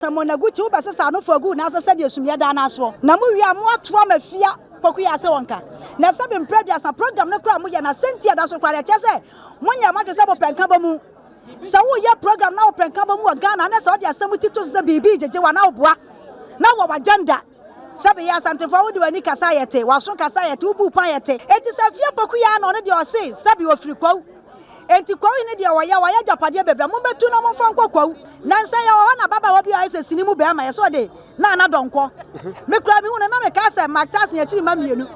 Na Monaguti, wobɛsesa ano fua guu n'ase sɛdeɛ sumiiɛ daa no asoɔ. Na mo wie a, mo ato ama fia Pokuya ase wɔ nka. Na sɛ bi mprɛ aduasa program no koraa mo yɛ no a, sɛnti ɛda so koraa no ɛkyerɛ sɛ mo nyɛ mo adwene sɛ mo pɛ nka bɔ mu. Sɛ wo yɛ program na wo pɛ nka bɔ mu wɔ Ghana a, na sɛ wo de asɛm ti to so sɛ biribi gyegye wo anaa wo boa na wɔ w'agenda. Sɛbe yɛ Asantefo a wode w'ani kasa a yɛte, w'aso kasa a yɛte, wo bu pɔ a yɛte. Enti sɛ fie poku yi ara na ɔno deɛ ɔse sɛbe ɔfiri Kwawu. Enti Kwawu hene deɛ ɔyɛ a, wayɛ agyapadeɛ bebree a mommɛtu na momfa nkɔ Kwawu. Nansa yɛwɔ hɔ na ababaawa bi a ɔyɛ sɛ sini mu barima, yɛ sɛ ɔde Nana Donkɔ. Me koraa mehuu no na mekaa sɛ Mark Tass ne akyiri mma mmienu.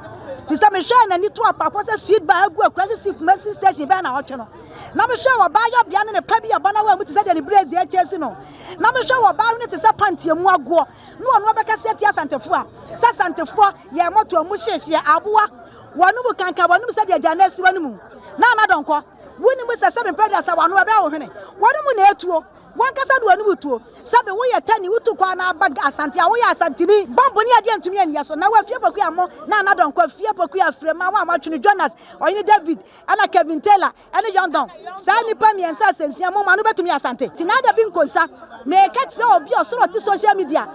Firi sɛ mehwɛɛ n'ani to apapo sɛ sweet bar a agu Akurase si Kumasi station bɛyɛ naawɔtwe no. Na mehwɛɛ wɔ baa yɔbea no ne pa bi a ɛbɔ n'awaa mu te sɛ deɛ ne brɛɛsi akyɛ si no. Na mehwɛɛ wɔ baa hwene te sɛ panty a emu agoɔ. na ɔno ɔbɛkasa atia Asantefoɔ a sɛ Asantefoɔ yɛ mɔtoɔ mu hyehyeɛ aboa wɔn mu kankan wɔn mu sɛdeɛ agya no asiwa no mu na anadɔnkɔ wonim sɛ sɛbe mpɛ deɛ sɛ wɔn ano ɛbɛyɛ wo hwene wɔn mu na ɛtuo wɔn kasa de wɔn mu tuo sɛbe woyɛ tani wotu kɔ anaa ba asante a woyɛ asantini bɔmbo ne adeɛ ntumi aniyɛ so na wɔafie pokua mo na anadɔnkɔ fie pokua afirɛ ma wɔn a wɔatwene Jonas ɔyene David ɛna Kevin Taylor ɛne Yangon. Saa nnipa mmiɛnsa a sɛnsia mo ma no bɛtumi Asante. Ti n'ada bi nkonsa. Meka kyerɛ obi a ɔsoro ɔte social media.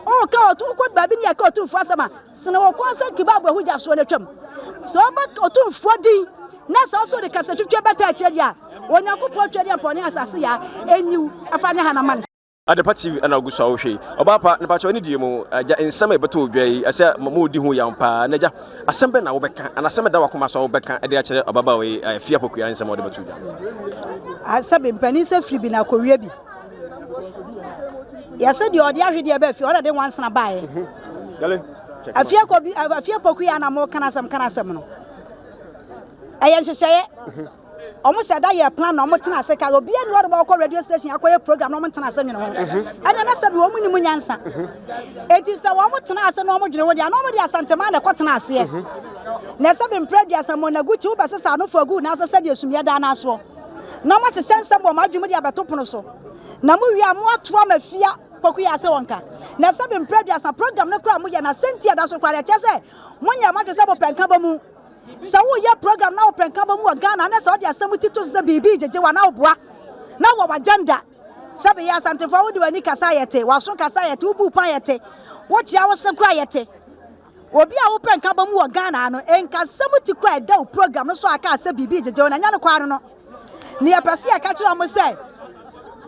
Ɔka ɔtu wokɔ baabi ne yɛka ɔtumfoɔ asɛm a sene wɔ kɔn sɛ kibaabu ɛho gya soɔ no atwam. Sɛ ɔbɛ ɔtumfoɔ din na sɛ ɔso de kasa twitwa bɛta akyerɛ deɛ a Onyankopɔn twɛ deɛ mpɔne asase yɛ a ɛnyiw ɛfa ne hanama no. Adepa TV ɛna ogu so a wohwɛ yi. Ɔbaa pa, nipa kyɛw ne die mu. Agya, nsɛm a ɛbɛtɔ odwa yi, ɛsɛ mo odi ho yam paa. N'agya, asɛm bɛn na wobɛka, anaa asɛm ɛda wakoma so a wobɛka ɛde akyerɛ ɔbabaawa yi a ɛfi apokua nsɛm a ɔde bɛto dwa? Asɛ bi, mpanin sɛ firi bi na akɔwie bi. Yɛsɛ deɛ ɔde ahwedeɛ bɛ fie, ɔna de nwansena baeɛ. Afie kɔ bi, afie pokua na mo kana asɛm kana asɛm no. Ɛyɛ nhyehyɛeɛ. wɔn sɛ da yɛ plan na wɔn tena ase ka obi ani wɔde bɛkɔ radio station akɔyɛ program na wɔn tena ase nwene ho mhm. ɛnna na sɛbi wɔn nim nyansa mhm. eti sɛ wɔn tena ase na wɔn dwene ho deɛ na wɔn de asantema na ɛkɔ tena aseɛ mhm. na sɛbi mpere dua sɛ mɔnagu kyi wobɛ sesa ano fo agu n'asɛ sɛdeɛ sumiɛ dan n'asoɔ na wɔn asesɛ nsɛm wɔn adwuma de abɛto pono so na mo wia mo ato ama fia kɔkɔ yɛ ase wɔn ka na sɛbi mpere dua sa program no kora mo yɛ na sɛnti ɛda so kora ɛkyɛ sɛ mo nyɛ mo adwene sɛ mo pɛnka bɔ mu. sɛ woyɛ program na wopɛ nkabɔ mu wɔ ghana na sɛ ɔde asɛm ti to so sɛ biribi gyegye wa na woboa na wɔ w'agenda sɛ bɛyɛ asantefoɔ wode w'ani kasa yɛ te w'aso kasa yɛ te wobu pan yɛ te wokyea wo se kora yɛ te obi a wopɛ nkabɔ mu wɔ ghana no nkasɛm ti kora ɛda wo program no so a kaa sɛ biribi gyegye wo na ɛnyɛ no kwaa no no ne yɛpɛ sɛ yɛka kyerɛ ɔmo sɛ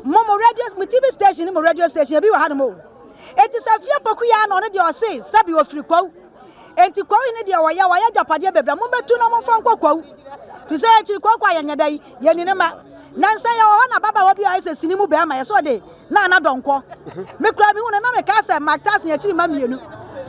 mo mo radio mo tv station mo radio station ebi wɔ ha no mo eti sɛ fie pokuya na ɔno deɛ ɔse sɛbi ofiri kwawu Enti kwawu yi ne deɛ ɔyɛ, wayɛ agyapadeɛ bebree a mobɛtu na momfa nkɔ kwawu. Fi sɛ akyiri kwaku a yɛnyɛ dɛ yi, yɛni ne mma. Na nsɛ yɛwɔ hɔ na ababaawa bi a ɔyɛ sɛ sini mu bɛrima yɛ sɛ ɔde na na dɔnkɔ. Me koraa mehu no na mekaa sɛ Mark Tyson akyiri mma mmienu.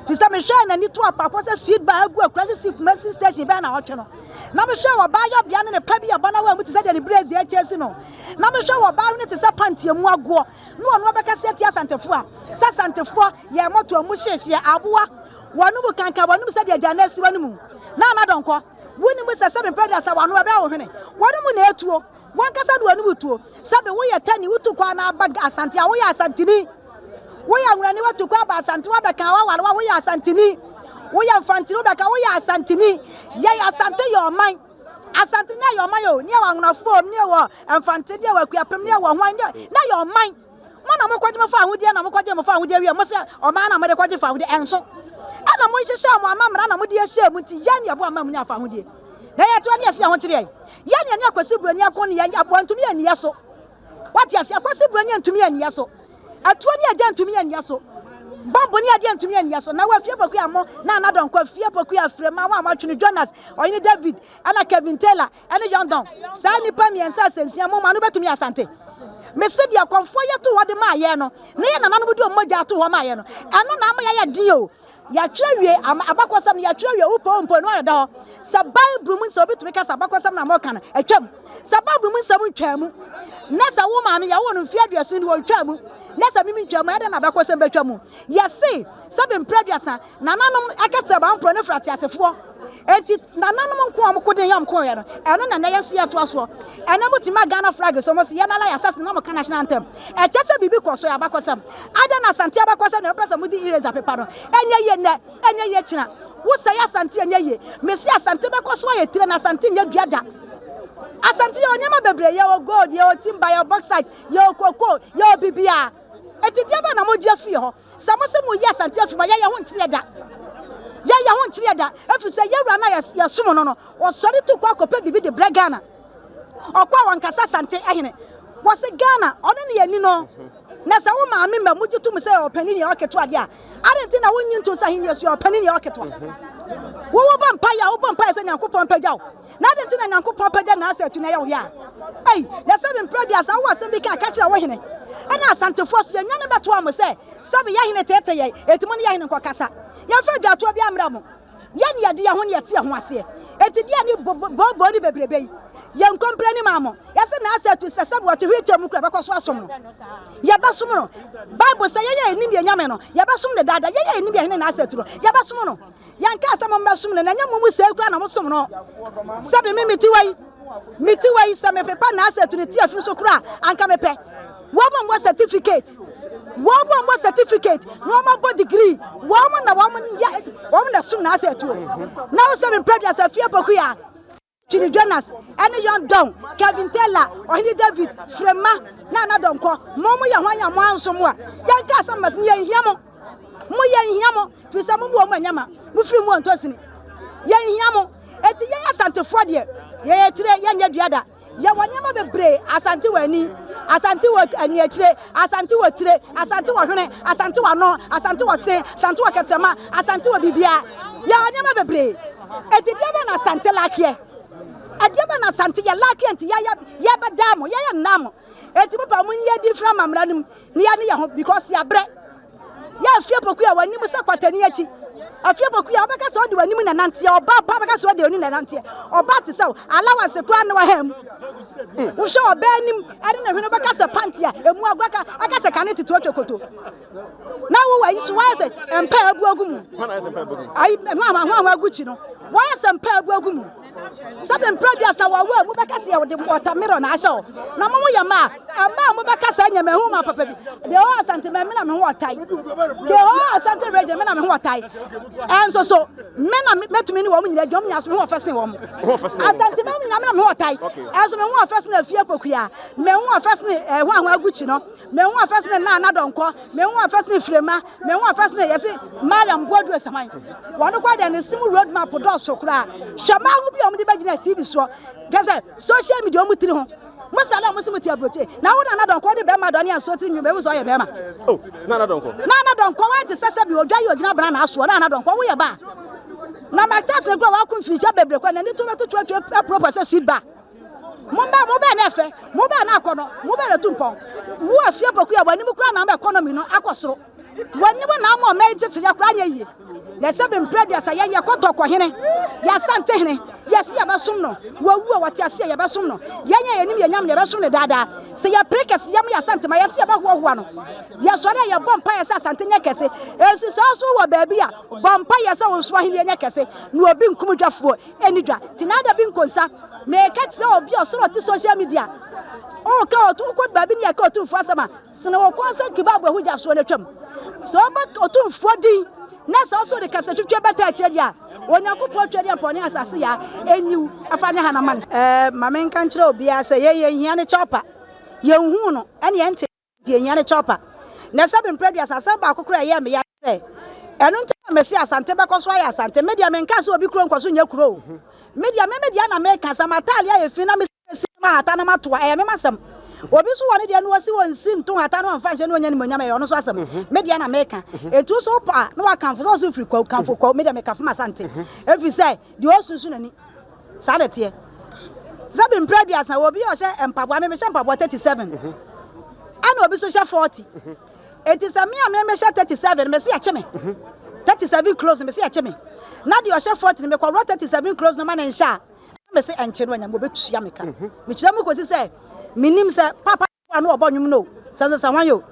Fi sɛ mehwɛɛ n'ani to apafoɔ sɛ sweet bar agu akurase si Kumasi station bɛyɛ na ɔtwe no. Na mehwɛɛ wɔ baa yɔbea ne ne pa bi a bɔnawaa mu te sɛ deɛ ne brezi akyɛ si no. Na mehwɛ wɔ baa hwene te sɛ pantie mu agoɔ. na ɔno ɔbɛkasa atia Asantefo a, sɛ Asantefo yɛ mɔto a mu hyehyɛ aboa wɔn mu kankan wɔn mu sɛdeɛ agya no asiwa no mu. Na anadɔnkɔ, wonim sɛ sɛbe mpɛn aduasa wɔn ho ɛbɛyɛ wo hwene, wɔn mu na etuo, wɔn kasa no wɔn mu tuo. Sɛbe woyɛ tani, wotu kɔ anaa aba Asante a, woyɛ Asantini. Woyɛ Anwurani, wotu kɔ aba Asante, wabɛka waware wa, woyɛ Asantini. Woyɛ Mfantini, wobɛka woyɛ Asantini. Yɛyɛ Asante yɛ ɔman. Asante ne yɛ ɔman o, ne yɛ wɔ anwonafoɔ, ne yɛ wɔ mfante, ne yɛ wɔ akuapem, ne yɛ wɔ hwan, ne yɛ ɔman. Mo na mo kɔgye mo fa ahodeɛ na mo kɔgye mo fa ahodeɛ wie mo sɛ ɔman na mo de kɔgye fa ahodeɛ ɛnso. Ɛna mo nhyehyɛ mo ama mmara na mo de ahyɛ mu nti yɛn ne yɛboa ma mo nya fa ahodeɛ. Na yɛtoa ne yɛsi yɛn ho kyereɛ. Yɛn ne yɛne akwasi buroni ako ne yɛn aboa ntumi yɛ ne yɛ so. wate ase akwasi buroni antumi anniɛ so atuo ne agya antumi anniɛ so bɔmbo ne adeɛ antumi anniɛ so na wafie poku amɔ na anadɔnkɔ afie poku afire ma wɔn a wɔatwene jonas ɔyene david ɛna kevin taylor ɛne yɔndɔn saa nnipa mmiɛnsa asɛnsia mo ma no bɛtumi asante mese deɛ kɔmfoɔ yɛ to hɔ de maa yɛ no na yɛ nananom de ɔmmɔgya ato hɔ maa yɛ no ɛno na ama yɛayɛ den o Yɛatwerɛ awie, abakɔsɛm no yɛatwerɛ awie, wopɛ wo mpo no ayɛ da hɔ. Sɛ Bible mu nsɛm, wobɛtumi ka sɛ abakɔsɛm na mɔka no, atwam. Sɛ Bible mu nsɛm ntwaa mu, na sɛ wo maame yɛwo no mfeɛ aduason ni wɔntwaa mu, na sɛ mimi ntwaa mu, ɛdɛ na abakɔsɛm bɛtwa mu. Yɛse, sɛ bɛmpere aduasa, nananom ɛkɛtɛ baa mporɔ ne frɛ ateasefoɔ. eti nananom nko a wɔko den yɛ wɔko yɛ no ɛno na nnɛ yɛn so yɛtoa soɔ ɛnɛ mo ti ma Ghana flag so mo si yɛn nana yɛ asase na mo ka national anthem ɛkyɛ sɛ biribi kɔ so yɛ abakɔsɛm ada na asante abakɔsɛm na ɛpɛ sɛ mo di eraser pepa no ɛnyɛ yie nnɛ ɛnyɛ yie kyina wosɛ yɛ asante ɛnyɛ yie mesi asante bɛkɔ so ayɛ tire na asante nyɛ dua da asante yɛ onneɛma bebree yɛ wɔ gold yɛ wɔ timba yɛ wɔ bauxite yɛ wɔ cocoa yɛ wɔ bibia eti deɛ bɛ na mo gye afiri hɔ Sɛ mo sɛ moyi asante afi mu a, yɛyɛ ho nkyereɛ da. Yɛyɛ ho nkyereɛ da. Ɛfiri sɛ yɛwura no a yɛsom no no, ɔsɔre tu kɔ akɔpɛ biribi de brɛ Ghana. Ɔkɔ a wɔnkasa asante ahene. Wɔse Ghana, ɔne ne yɛni no. Na sɛ wo maame mma mu gye tom sɛ yɛwɔ panin yɛwɔ ketewa deɛ a, adɛn nti na wonnye ntom sɛ ahennie so yɛwɔ panin yɛwɔ ketewa? Wo wobɔ mpaeɛ a, wobɔ mpaeɛ sɛ Nyankopɔn mpagya wo. Na adɛn nti na Nyankopɔn pagya n'asɛ atu na ɛyɛ wo ya? Ei, na sɛbe mprɛ aduasa wowɔ asɛm bi ka a, ka kyerɛ wo hene. Ɛnna Asantefoɔ so yɛnnuanom bɛtoaa mo sɛ, Sɛbe yɛn hene teetee yɛn, enti mo ne yɛn hene nkɔkasa. Yɛmfa dwaatoɔ biara mmrɛ mo. Yɛn ne yɛde yɛn ho ne yɛte yɛn ho aseɛ. Enti deɛ ne booboo ne bebrebe yi, yɛnkɔ mpira anim ama mo. Yɛse n'asɛ atu sɛ sɛbe ɔte wheelchair mu kura bɛkɔ so asom no. Yɛbɛsom no. Bible se yɛn a yɛnim yɛn Nyame no, yɛbɛsom no daa daa. Yɛn a yɛnim yɛn hene n'asɛ atu no, yɛbɛsom no. yɛnkaa sɛ mommɛsom no na ɛnyɛ mo mu sɛe koraa na mosom no sɛ me me mete wei mete wei sɛ mepepa n'asɛtu ne ti afi so koraa anka mepɛ wɔn mmɔ certificate wɔn mu ɔmɔ certificate na ɔmɔ bɔ degree wɔn mu na wɔn yɛ wɔn na sum na asɛ tuo na wosɛ mi mpɛ deɛ sɛ fie poku ya. Chidi Jonas ne Young Don, Kevin Taylor, Ɔhene David, Frema, Nana Donkor, mo mo yɛ hwan a mo anso mo a, yɛn kaa sɛ mɛt yɛn hia mo, mo yɛn hia mo, firi sɛ mo mo wɔ mo anyama, mo firi mo ɔntɔ sini, yɛn hia mo, eti yɛn asantefoɔ deɛ, yɛyɛ tire yɛn nyɛ dua da, yɛwɔ nneɛma bebree, asante wɔ ani, asante wɔ ani akyire. Asante wɔ tire, Asante wɔ hwene, Asante wɔ ano, Asante wɔ se, Asante wɔ kɛtrɛma, Asante wɔ bibia. Yɛwɔ nneɛma bebree. Eti deɛ bɛn na Asante lakeɛ? Ɛdeɛ bɛn na Asante yɛ lakeɛ nti yɛyɛ yɛbɛdaa mo, yɛyɛ nnaa mo? Eti mo pɛ a mo nyi adi mfiri ama mmara no mu na yɛne yɛn ho because yɛabrɛ. Yɛ afie poku a w'anim sɛ kwatani akyi. Afie poku a wobɛka sɛ ɔde w'anim na nanteɛ. Ɔbaa pa bɛka sɛ ɔde w'anim na nanteɛ. Ɔbaa te sɛ wo, alawanse koraa na waha mu. Wohwɛ ɔbaa anim ɛne ne hwene wobɛka sɛ panti a emu agua ka ɛka sɛ kane tete ɔtwa koto. Na wo ayi so wayɛ sɛ mpa abu agu mu. Ayi ho ahoa ho ahoa agu kyi no. Wayɛ sɛ mpa abu agu mu. sɛbe mprɛ aduasa wɔ awo a mu bɛka sɛ wɔde wɔtamerɔ na ahyɛ hɔ na mo mo yɛ mma a mma a mo bɛka saa nyɛ mahu ma papa bi de hɔ asante ma mena me ho ɔtae de hɔ asante regye mena me ho ɔtae ɛnso so mena mɛtumi ne wɔn nyina adwuma mu nyaso me ho ɔfɛ sen wɔn asante ma nyina mena me ho ɔtae ɛnso me ho ɔfɛ sen afie kɔkua me ho ɔfɛ sen ɛho ahoa gukyi no Mehu afɛ sene naa na dɔnkɔ. Mehu afɛ sene firema. Mehu afɛ sene yɛse Mariam Boadu Asaman. Wɔn kɔ deɛ ne sim road map dɔɔso koraa. Hwɛ maa ho bi a wɔn de bɛgyina TV soɔ. Kyɛ sɛ social media wɔn tiri ho. Mo sale a wɔn se mo te aburokye. Na wo nana dɔnkɔ de bɛrima dɔne ansuo tiri nwom ehu sɛ ɔyɛ bɛrima. Oh nana dɔnkɔ. Nana dɔnkɔ wɔn te sɛ sɛbi odwa yi ogyina bena na asoɔ nana dɔnkɔ wo yɛ ba. Na ma test ne kura wɔn ako mfirihyia bebree kɔ na ni to bɛto tuo tuo apuropɔ sɛ sweet bar. Momba, mobɛn na ɛfɛ, mobɛn na akɔnɔ, mobɛn na tu mpɔn. Wo afie poku a w'anim kura na ama ɛkɔnɔmi no akɔ soro. W'anim na ama ɔman yi kyekyeyɛ koraa nyɛ yie. Na ɛsɛ bɛ mpira duasa yɛn yɛ kɔtɔ kɔ hene, yɛ asante hene, yɛ se yɛ bɛ som no, wawu a wɔte aseɛ yɛ bɛ som no, yɛn a yɛnim yɛn nyame no yɛ bɛ som no daa daa. Sɛ yɛ pere kɛse yɛ mo yɛ asante ma yɛ se yɛ bɛ hoa hoa no. Yɛ sɔre a yɛ bɔ mpaeɛ sɛ asante nyɛ kɛse. Ɛsi saa so wɔ baabi a, bɔ mpaeɛ sɛ wo nso ahenie nyɛ kɛse na obi nkum dwafoɔ. Ɛni dwa nti na ada bi nkonsa meka kyerɛ obi a ɔsoro ɔte social media ɔka ɔto wokɔ baabi ne yɛka ɔtumfoɔ asɛm a sene wɔ kɔn sɛ kebab ahu gya soɔ no atwam sɛ ɔba ɔtumfoɔ din na sɛ ɔso de kasa twitwa bɛta akyerɛ deɛ a onyankopɔn twɛ deɛ mpɔ ne asase yɛ a ɛnyiw ɛfa ne hana ma no ɛɛ ma menka nkyerɛ obiara sɛ yɛyɛ nhia ne kyɛw pa yɛnhu no ɛne ɛnte Deɛ ɛhia ne copper. Na sɛbe mprɛ aduasa, asɛm baako koraa ɛyɛɛ me ya ne sɛ, ɛno nti na mese Asante bɛkɔ so ayɛ Asante. Me deɛ menkaa sɛ obi kuro nkɔ so nyɛ kuro o. Me deɛ me me deɛ na meka, sɛ m'atadeɛ ayɛ fi na mesiesie no mahata na mato a, ɛyɛ me m'asɛm. Obi nso wɔ ne deɛ na ɔsi ɔnsi nto nhata na ɔmfa nhyɛ na ɔnya animuonyam, ɛyɛ ɔno nso asɛm. Me deɛ na meka. Enti wo nso wopɛ a na wakamfo sɛ ɔse firi Kwawu, kamfo Kwawu. Me deɛ mekafo m'Asante. Ɛfiri sɛ deɛ ɔsunsu n'ani. Saa na ɛteɛ. Te sɛ me mprɛ aduasa, wɔ obi a ɔhyɛ mpaboa, me mehyɛ mpaboa 37, ɛna obi nso hyɛ 40. Enti sɛ me a me mehyɛ 37 no, mese yɛkye me. 37 close no, mese yɛkye me. Na deɛ ɔhyɛ 40 no, mekɔworɔ 37 close no ma no nhyɛ a, na mese ɛnkye no anyame wɔbɛtua me ka. Mekyerɛ mu kɔsi sɛ menim sɛ papa a na ɔbɔ nnwom no o, sɛnsɛnsɛhwan o,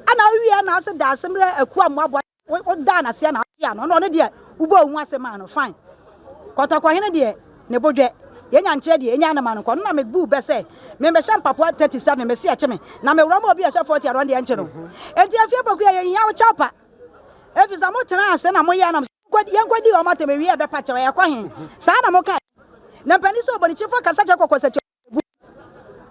ɛna awie na ɔse Daasemmerɛ akuo a mmoaboa Wodaa no ase a na wote ano. Ɛna ɔno deɛ wobɔɔ wo ho ase maa no fine. Kɔtɔkɔhene deɛ ne bo dwɛ. Yɛnya nkyerɛ deɛ ɛnya no ma no nkɔ. Ɔno na mebuu bɛ sɛ membɛhyɛ mpapoa 37 mese ɛkye me na mewura mu a obi a ɛhyɛ 40 a na ɔno deɛ ɛnkye no. Enti afie poku yi a yɛhia wo kyɛw pa. Ɛfiri sɛ motena ase na moyɛɛ nam sɛ yɛnkɔdi wɔn atɛm ɛwie a ɛbɛpa kyɛw ɛkɔ he? Saa na mokae. Na mpanin sɛ ɔbɔnekyefo kasa kyɛ kɔkɔ sɛ kyɛw gu.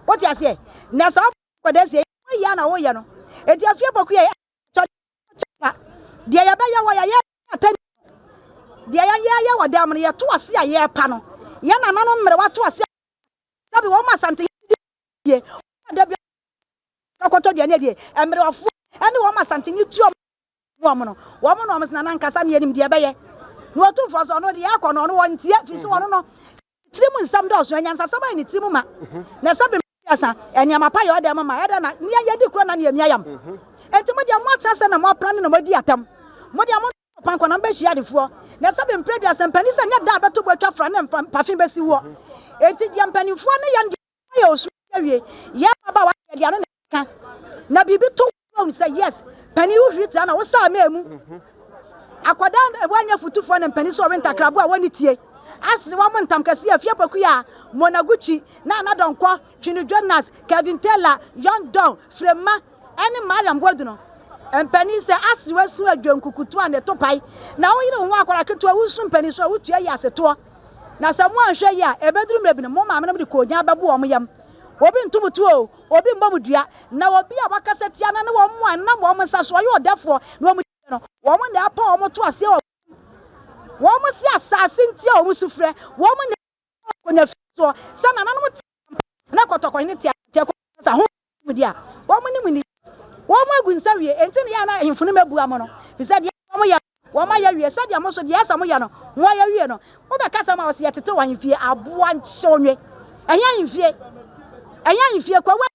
Wote aseɛ? Na saa ɔbɔnefoɔ nkwadaa sie yi, woyɛ a na woyɛ no. Enti afie poku yi a yɛhia Sɛ ɔkyɛ pa, deɛ yɛbɛyɛ wɔ yɛyɛ atɛn deɛ yɛyɛ yɛ wɔ dɛm no yɛto ase a yɛrepa no yɛn nananom mmerewa to ase a sɛbi wɔn asante yɛdidi yie wɔn ada bi kɔtɔ aduane adie mmerewafoɔ ɛne wɔn asante ne tuo wɔn no wɔn na wɔn nana nkasa ne yɛnim deɛ ɛbɛyɛ na ɔtumfoɔ sɛ ɔno deɛ akɔ no ɔno wɔn ntie fi so ɔno no Ne tirim nsɛm dɔɔso, anyansasɛm ayɛ ne tirim ma. Na sɛ bem tua sa, nneɛma pa yɛ ɔdɛm ma. Ɛdɛn na nea yɛadi korɔ na nea emia yam? Enti mo deɛ, moatena ase na moapra no na moadi atɛm. Mo deɛ, monto mo pankɔ na mobehyia adefoɔ. Na sɛ bem pira dua, sɛ mpanin sɛ nyɛ da a ɛbɛto bo atwa fra ne mpafe besi woɔ. Enti deɛ mpanimfoɔ ne yɛn deɛ. Wayɛ osu ase awie. Yɛ ababaawa deɛ deɛ ano na ɛka. Na biribi to wo fam sɛ yes, panin wo hwiri tra na wo saa mɛɛ mu. Akwadaa a wanyɛ futufoɔ na mpanin so ɔwe ntakraboa a wɔne tie. Ase wɔn ntam kɛseɛ afie pakuya, Monaguchi, Nana Donkɔ, Twino Jonas, Kevin Taylor, Young Don, Frema, ɛne Mariam Wade no. Mpanin sɛ ase wasu adwenkukutu a ne to pae. Na wo yere ho akwadaa ketewa wo nso mpanin so a wo tua yi ase toɔ. Na sɛ moanhwɛ yie a, ɛbɛduru mmerɛ bi no, mo maamenom de koogyan bɛbo wɔn yam. Obi nto mo tuo oo, obi mmɔ mo dua, na obi a wɔakasa tia no ne wɔn a ɛnam wɔn nsa so, ɔyɛ ɔdɛfoɔ, na wɔn akyi no, wɔn na ɛrepa wɔn to aseɛ wɔ mo mu. Wɔn se asaase nti a wɔn su frɛ, wɔn na ɛtwa wɔn kɔ nyafiasoɔ, sɛ nananom teɛ. na kɔtɔkɔn ne teateaku kasa ho nimdeɛ a wɔnim nni. Wɔagu nsa wie, enti na ɛyɛ a na ahemfo no mmebua mo no, efisɛ deɛ asa a wɔyɛ no, wɔayɛ awie, sɛdeɛ mo nso deɛ asa a moyɛ no, moayɛ awie no. Wobɛkasa ma wɔse, Yɛtetew ahemfie, aboa nkyewnywe. Ɛhe ahemfie? Ɛhe ahemfie? Kwawu ahemfie.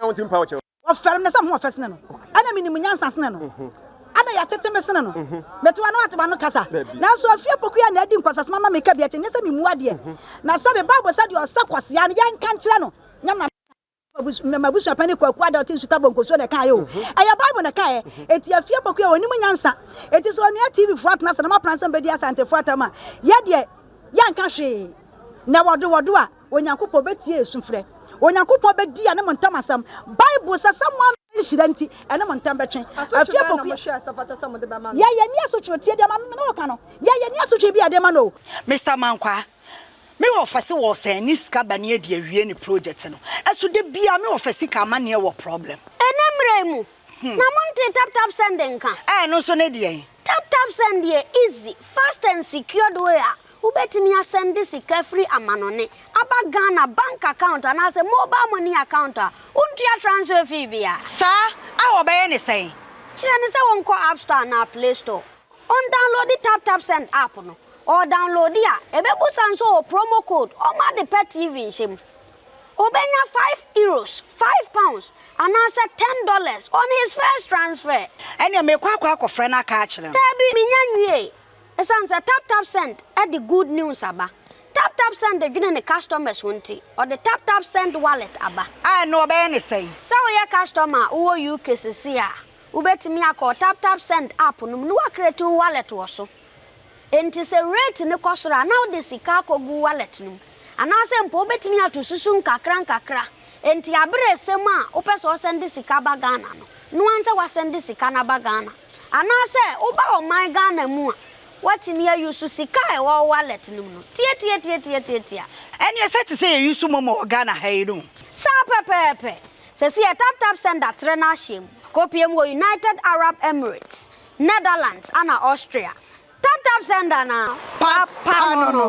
Wɔfɛre me sɛ me ho yɛ fɛ sene no, ɛna menim nyansa sene no, ɛna yɛatete me sene no. Mete w'ano a te m'ano kasa. Nanso afie pokoyaa na adi nkwaseasɛm ama me kabii akyɛ, nyɛ sɛ memu adeɛ. Na sɛ mebɔ abɔ sɛdeɛ ɔsɛ kwaseaa no, yɛnka nkyerɛ no nyam na meka. M'abusua panin Kwaku Ada a ɔte Nsuta Bonkosuo na ɛkaeɛ o. Ɛyɛ Bible na ɛkaeɛ. Enti afie pokoyaa ɔnim nyansa. Enti sɛ ɔnua TV foɔ atena ase na moapra nsɛm bɛdi Asantefoɔ atam a, yɛ deɛ yɛnka hwee. Na wɔdo wɔdo a. Onyankopɔn bɛtie yɛn sufrɛ. Onyankopɔn bɛdi yɛne mo ntam asɛm. Bible sɛ sɛ mo ama nhyira nti, ɛne mo ntam bɛtwe. Asotwe bɛn na mohwɛ a sɛ fata sɛ mode bɛma no? Yɛ yɛn ani asotwe o, tie deɛ mame ne wo ka no. Yɛ yɛn ani asotwe bi a yɛde ma no o. Mister Mankwaa, me wɔfase wɔ sɛn ne sika ba ne adi awie ne project no. Ɛso da biara me wɔfase ka amanneɛ wɔ problem. Ɛnɛ mmra yi mu, Na monte tap tap send nka? Ɛɛ ɛno nso ne deɛn? Tap tap send yɛ easy, fast and secured way a wobɛtumi asɛnde sika firi amanɔne aba Ghana bank account anaasɛ mobile money account a wontua transfer fee biara. Saa a wɔbɛyɛ ne sɛn? Kyerɛ no sɛ ɔnkɔ App Store anaa Play Store, ɔndownloadi Tap Tap Send app no. Ɔredownloadi a, ɛbɛbusa no sɛ ɔwɔ promo code, ɔmma Adepa TV nhyɛ mu. Obenya five euros, five pounds, anaasɛ ten dollars on his first transfer. Ɛnneɛ meekɔ akɔ akɔfrɛ no aka akyerɛ no. Daabi, mennya nwiei. Esiane sɛ TapTapSend de good news aba, TapTapSend dwene ne customers ho nti, ɔde TapTapSend Wallet aba. A, ɛnneɛ wɔbɛyɛ no sɛn? Sɛ woyɛ customer a wowɔ UK seesei a, wobɛtumi akɔ TapTapSend app no mu na woacreate wo wallet wɔ so. Enti sɛ rate no kɔ soro a, na wode sika akɔgu wallet no mu. Anaasɛ mpo wobɛtumi ato susu nkakrankakra. Enti aberɛ resɛm a wopɛ sɛ ɔsɛnde sika ba Ghana no, noa nsɛ wasɛnde sika no aba Ghana. Anaasɛ woba ɔman Ghana mu a, woatumi a use sika a ɛwɔ wo wallet no mu no. Tiatiatiatiatiatia. Ɛneɛ sɛ te sɛ yɛ use momo wɔ Ghana ha yi no. Saa pɛpɛɛpɛ. Sɛsi yɛ taptapsend atrɛ no ahyɛm. Akɔpie mu wɔ United Arab Emirates. Netherlands ana Austria. Tap tap sender na papa no no.